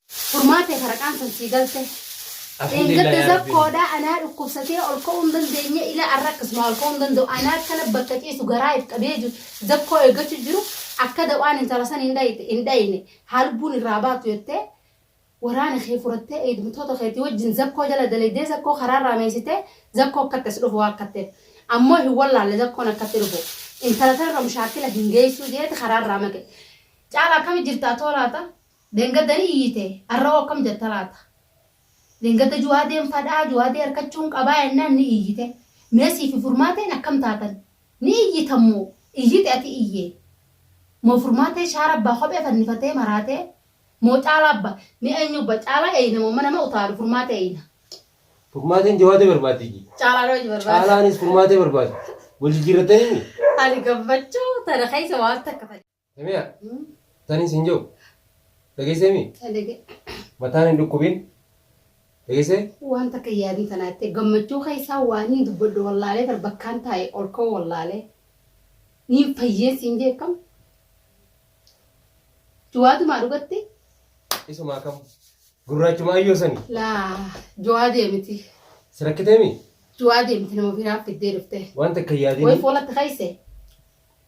Furmaate faraqaan san sii galte. Dheengadda zakkoodha anaa dhukkubsatee ol ka'uu hin dandeenye ila arra akkasuma ol ka'uu hin danda'u anaa akkana bakka ciisu garaa if qabee jiru zakkoo eeggachuu jiru akka dawaan intala san hin dhayite hin dhayine haa lubbuun irraa baatu jettee waraana kee furattee eegdumtoota keetii wajjin zakkoo jala dalaydee zakkoo karaa irraa meeysitee zakkoo akkatti as dhufu waa akkatteef ammoo hin wallaalle zakkoon akkatti dhufu intala san irra mushaakila hin geeysuu jeeti karaa irraa maqe caalaa akkami jirtaa toolaata Dheengadda ni iyyite, arra'oo akkam jetta laata? Dheengadda Juwaadeen fadhaa, Juwaadee arkachuun qabaa jennaan ni iyyite. Mee siifi Furmaateen akkam taatan? Ni iyyitan moo? Iyyite ati iyye. Moo Furmaatee shaara abbaa kophee fannifatee maraatee? Moo Caalaa abba? Mee eenyu abba? Caalaa eeyna moo nama utaalu Furmaatee eeyna? Furmaateen Juwaadee barbaaddi iyye. Caalaan hojii barbaada. Caalaanis Furmaatee barbaada. Wal jijjiirrattaniimi? Ani gammachuu tana keessa waan takka fadhe. Samiya tani sin jiru dhageessee mi? Ta dhage. Mataan hin dhukkubin dhageessee? Waan takka hin yaadin tanaa jettee gammachuu keessaa waanin dubbadhu wallaalee bar bakkaan taa'e ol ka'uu wallaalee niin fayyee siin jee akkam juwaatumaa dhugatti Isuma akkam gurraachuma ayyoo sani laa juwaa deemiti si rakkitee mi? juwaa deemiti nama ofii naaf fiddee dhuftee Waan takka hin way yaadin fuulatti keesse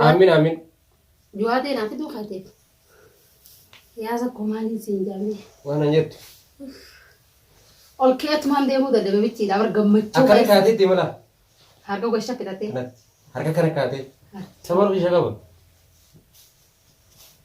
Aamin aamin. Juwaatee naa fiduu kaateef. Yaa sakkoo maaliin siin jaamee. Waan an jettu. Ol keetumaan deemuu dadhabe michiidha bar gammachuu. Akkana kaatee itti mala. Harka gosa shakkitatee. Harka kana kaatee. Sababa ishee qaba.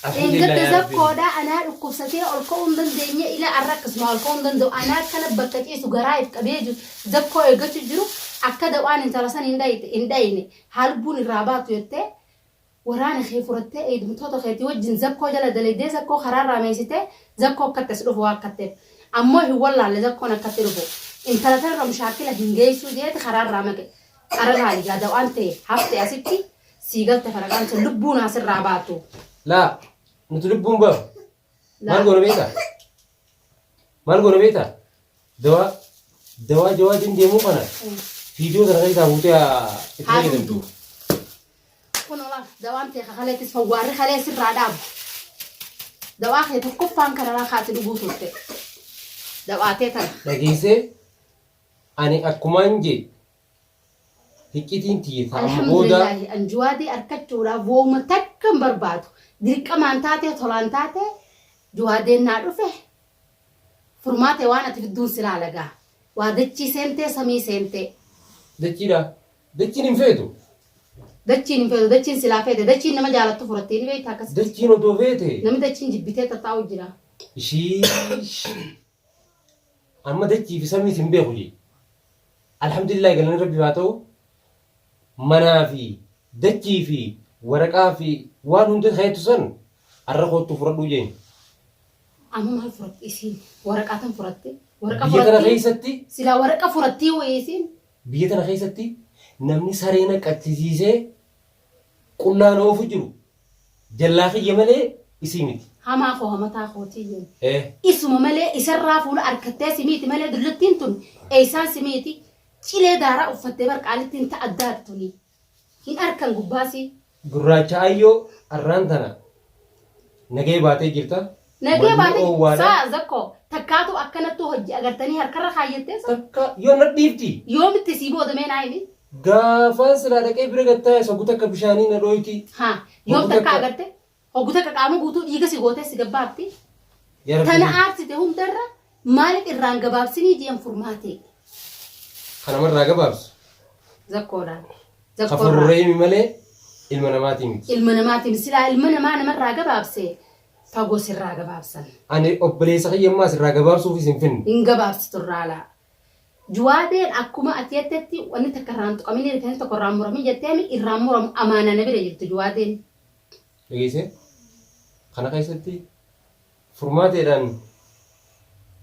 Dheengadda Zakkoo dha anaa dhukkubsatee ol ka'uu hin dandeenye ila arra akkasuma ol ka'uu hin danda'u anaa akkana bakka ciisu garaa if qabee jiru Zakkoo eeggachu jiru akka dawaan intala san hin dhayite hin dhayine haa lubbuun irraa baatu jettee waraana kee furattee eegdumtoota keetii wajjin Zakkoo jala dalaydee Zakkoo karaa irraa meeysitee Zakkoo akkatti as dhufu waa akkatteef ammoo hin wallaalle Zakkoon akkatti dhufu intala tan irra mushaakkila hin geeysuu jeeti karaa irraa maqe qarra laali gaa dawaan tee hafte asitti Sii galte faraqaan sun lubbuu naa sirraa baatu. Laa nuti lubbuun ba'a. Maal goona beektaa? Maal goona beektaa? Dawaa dawaa jawaa ittiin deemuu kana viidiyoo kana keessaa buutee haa- itti Haa fayyadamtu. dhugdu. Kun olaaf dawaan ta'e kakaleettis fawwaarri kalee sirraa dhaabu. Dawaa kee tokkoffaan kanarraa kaati dhuguu turte. Dawaa ta'e tana. Dhageessee ani akkumaan jee Hiccitiin tiyya ta amma booda. Alhamdulillaahi an Juwaadii arkachuudhaaf wooma takka hin barbaadu. Dirqamaan taatee tolaan taatee Juwaadeen naa dhufe furmaate waan ati fidduun si laala gaa. Waa dachii seentee samii seentee. Dachiidha? Dachiin hin feetu. Dachiin hin feetu dachiin silaa feete dachiin nama jaalattu furattee ni beektaa akkasitti. Dachiin odoo feete. Namni dachiin jibbitee tattaa'u jira. Ishiish. Amma dachii fi samiis hin beeku jee. Alhamdulillahi galanni Rabbiif haa ta'u manaa fi dachii fi waraqaa fi waan hunda keettu san arra koottu furadhuu jeen. Amma maal furatte isiin? Waraqaa tan furatte? Waraqaa Biyya tana furattee? keessatti Silaa waraqaa furattee wayii isiin? biyya tana keessatti namni saree naqattisiisee Qullaa na oofu jiru jallaa kiyya malee isii miti. Hamaa koo hamataa kootii jenne. Ee. Isuma malee isarraa fuula arkattee si miiti malee dullattiin tun eessaan si miiti cilee daaraa uffattee bar qaalittiin ta addaati tuni. Hin arkan gubbaasii. Gurraacha Ayyoo arraan tana nagaya baatee jirta. Nagee Manni baate oowwaadha. saa zakko takkaatu akkanattu hojji agartanii harkarra kaayyattee saa Takka yoo na dhiifti. yoomitti sii booda mee naa himi Gaafaan silaa dhaqee bira gattaa'es hoggu takka bishaanii na dhooyti. haa yoom Hoggu takka takka. agarte hoggu takka qaama guutuu dhiiga si gootee si gabbaafti Yaa Rabbi tana kiyya. aarsite hundarra maaliif irraan gabaabsinii jeen furmaatee Kana marraa gabaabsu. zakkoodhaan zakkoorraa Kafuurrahimi malee ilma namaatii miti. ilma namaatiin silaa ilma namaa namarraa gabaabse fagoo sirraa gabaabsan. Ani obboleessa kiyya ammaa sirraa gabaabsuufis hin finne. Hin gabaabsitu irraa laa. Juwaadeen akkuma ati jettetti wanni takka irraan tuqaminii rifeensi tokko irraan muramin jetteemi irraan muramu amaana na bira jirtu juwaadeen. Dhageessee? Kana keessatti furmaateedhaan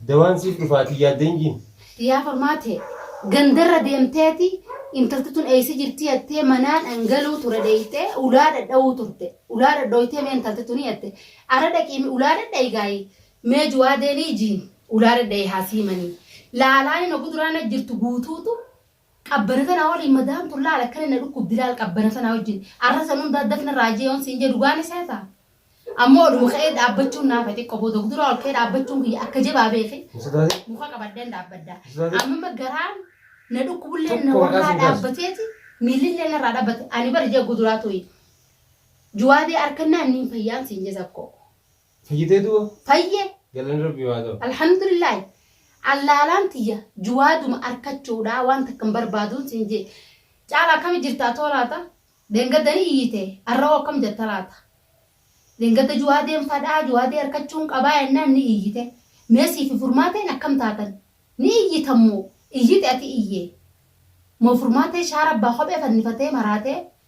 Dawaan siif dhufa ati yaadde hin jiin. Yaa kormaa tee gandarra deemteeti intalti tun eessa jirti jattee manaan an galuu ture dheeyxee ulaa dhadhawuu turte ulaa dhadhooytee mee intalti tuni jatte ara dhaqiimi ulaa dhadhayi gaayi mee juwaadeenii jiin ulaa dhadhayi haa siimanii laalaa nima guduraana jirtu guutuutu Qabbana tanaa waliin madaan kun laal akkana na dhukkubdi laal qabbana tanaa wajjin arra san hundaa daf na raajee yoon siin jee dhugaa ni seetaa? Ammoo oluma ka'ee dhaabbachuun naafa xiqqo booda of duraa ol ka'ee dhaabbachuun kiyya akka jabaa beeki muka qabadheen dhaabbadda. Amma garaan na dhukkubullee na warraa dhaabbateeti miillillee narraa dhaabbate ani bari jaggu duraa tuyi. Juwaadee harkannaan niin fayyaan siin jee sakkoo. Fayyitee du'a? Fayye. Galanni Rabbiif haa ta'u. Alhamdulillahi. Allaalaan tiyya juwaaduma arkachuudha waan takka hin barbaaduun siin jee. Caala akkami jirtaa too laata? Deengadda ni iyyite arra'oo akkam jetta laata? Deengadda juwaadeen fadhaa juwaadee arkachuun qabaa jennaan ni iyyite. Mee siifi furmaateen akkam taatan? Ni iyyitan moo? Iyyite ati iyyee. Moo furmaatee shaara abbaa kophee fannifatee maraatee?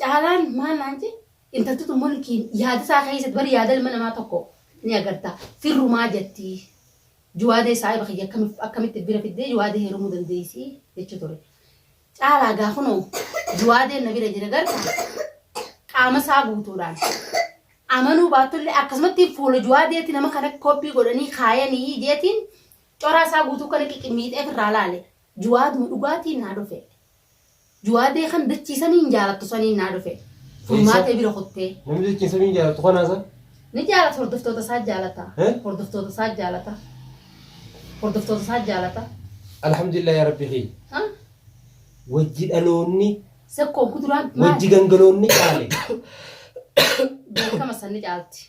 Caalaan maal naan jee intaltutu mulkiin yaada isaa keessatti bari yaada ilma namaa tokko ni agarta firrumaa jetti juwaadee saahiba kiyya akkamitti akkamitti bira fiddee juwaadee heerumuu dandeessi jechuu ture. Caalaa gaa kunoo juwaadeen na bira jira garta qaama isaa guutuudhaan amanuu baattullee akkasumatti fuula juwaadeetti nama kana koppii godhanii kaayanii jeetiin coraa isaa guutuu kana qiqimiidhee irraa laale Juwaad mo dhugaatiin naa dhufee. Juwaadee kan dachii samiin jaalattu saniin naa dhufee. Furmaatee bira kuttee. Namni dachii samiin jaalattu kanaa san. Ni jaalata hordoftoota isaa jaalata. Hordoftoota isaa jaalata. Hordoftoota isaa jaalata. Alhamdulillah yaa rabbi kiyya. Wajji dhaloonni. Sekkoo guduraan maali? Wajji gangaloonni caale. Beekama san ni caalti.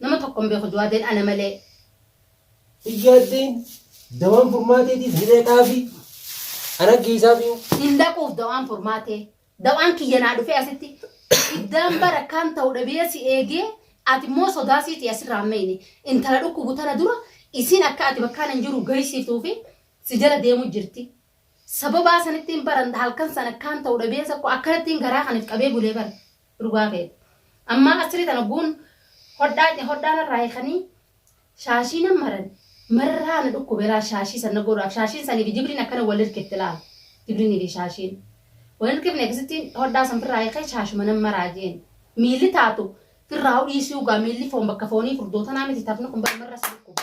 Nama tokko hin beeku Jawaadeen ana malee. Hin yaaddeen dawaan furmaateetiif ni dhaqaafi ana geessaafi. Hin dhaquuf dawaan furmaatee. Dawaan kiyya naa dhufee asitti iddaan bara kan ta'u dhabee si eegee ati immoo sodaa siiti asirraa meeyne intala dhukkubu tana dura isin akka ati bakkaan hin jiru gahisiiftuu fi si jala deemu jirti. Sababaa sanittiin baran halkan sana kan ta'u dhabee sakko akkanattiin garaa kan if qabee bulee bara. Dhugaa kee. Ammaa achirii tan ogguun hodhaa hodhaa narraa hiikanii shaashii nan maran marraa na dhukkube laal shaashii san na godhaaf shaashiin sanii fi jibriin akkana wal hirkifte laal jibriinii fi shaashiin wal hirkifne akkasitti hodhaa san firraa hiikee shaashuma nan maraa jeen miilli taatu firraa hudhiisuu gaa miilli foon bakka foonii furdootanaa miti tafni kun bara marra si dhukkube.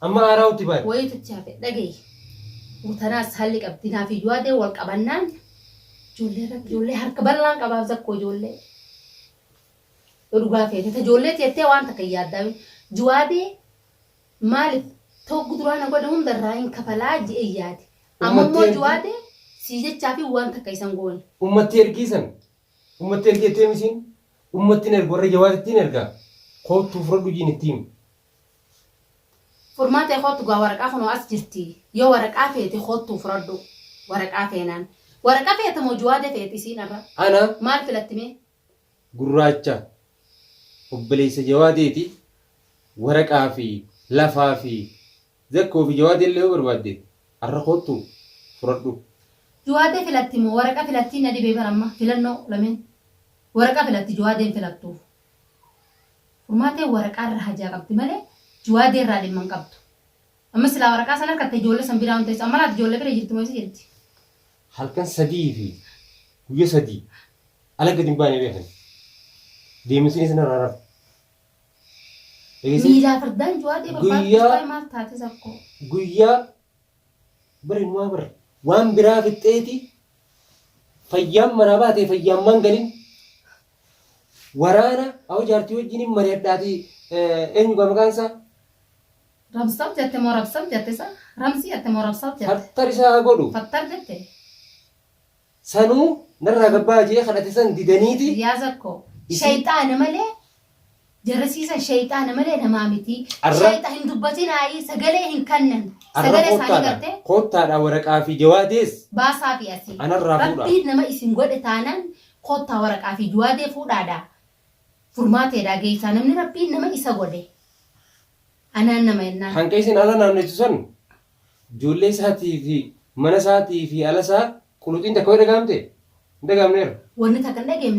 Amma aaraa utti baate. Wayii tutti hafe dhagayi. Mutanaas haalli qabdi naaf iyyuu haadee wal qabannaan ijoollee irratti ijoollee harka bal'aan qabaaf zakkoo ijoollee. Yoo dhugaa feete ta ijoollee teettee waan takka hin yaaddaa jiwaadee maaliif tokko duraa na godhe hunda irraa hin kafalaa je'e yaade. Amma immoo Uummatni ergi- jiwaadee sii jechaa fi waan takka isan goone. Ummatti ergii san. Ummatti ergeettee misiin. Ummatti hin ergu warra jawaatittiin ergaa. Koottuu fudhadhu jiin ittiin. Furmaatee koottu gaa waraqaa kunoo as jirti yoo waraqaa feete koottuu furadhu waraqaa feenaan waraqa feeta moo juwaade feete isiin arra Ana maal filatti mee gurraacha obboleessa jawaadeeti waraqaa fi lafaa fi zakkoo fi jawaadee illee yoo barbaadde arra koottu furadhu. Juwaadee filatti moo waraqa filattii na dhibee bar amma filannoo lameen waraqa filatti juwaadeen filattu. Furmaatee waraqaa irra hajaa qabdi malee juwaadee irraa dhimma hin qabdu. Amma silaa waraqaa san harkatte ijoollee san biraa hin teessu. Amma laata ijoollee bira jirti moo eessa jirti? Halkan sadii fi guyya sadii ala gad hin baane beekan. Deeminsinii san irraa hin hafu. Dhageessee? Miilaa fardaan juwaadee barbaaddu Guyyaa- waa'ee maal taate sakkoo? Guyyaa Bar inumaa bar waan biraa fixxeeti fayyaan manaa baatee fayyaan maan galin waraana awo jaartii wajjin hin mari'adhaati eenyu gaa maqaan isaa Rabsab jette moo rabsab jette sa? Ramsi jette moo rabsab jette? fattarisaa haa godhu Fattar jette. Sanuu narraa gabbaha je'ee kadhate san didaniiti. Riyaza koo. Isii. Shayxaana malee jarasii san shayxaana malee namaa miti. Arra. Shayxa hin dubbatinaayii sagalee hin kannan. Arra Sagalee isaanii koottaadha. gartee Koottaadha waraqaa fi jawaadees baasaafi asii. anarraa fuudhaa. Rabbiin nama isin godhe taanaan koottaa waraqaa fi juwaadee fuudhaadha. Furmaateedha geessaa namni rabbiin nama isa godhe. Anaan nama ennaan. Hanqa isin ala naanneessu san ijoollee isaatii fi mana isaatii fi ala isaa quluxiin takka yoo dhaga'amte? Hin dhaga'amne irra. Wanni takka hin dhageemne.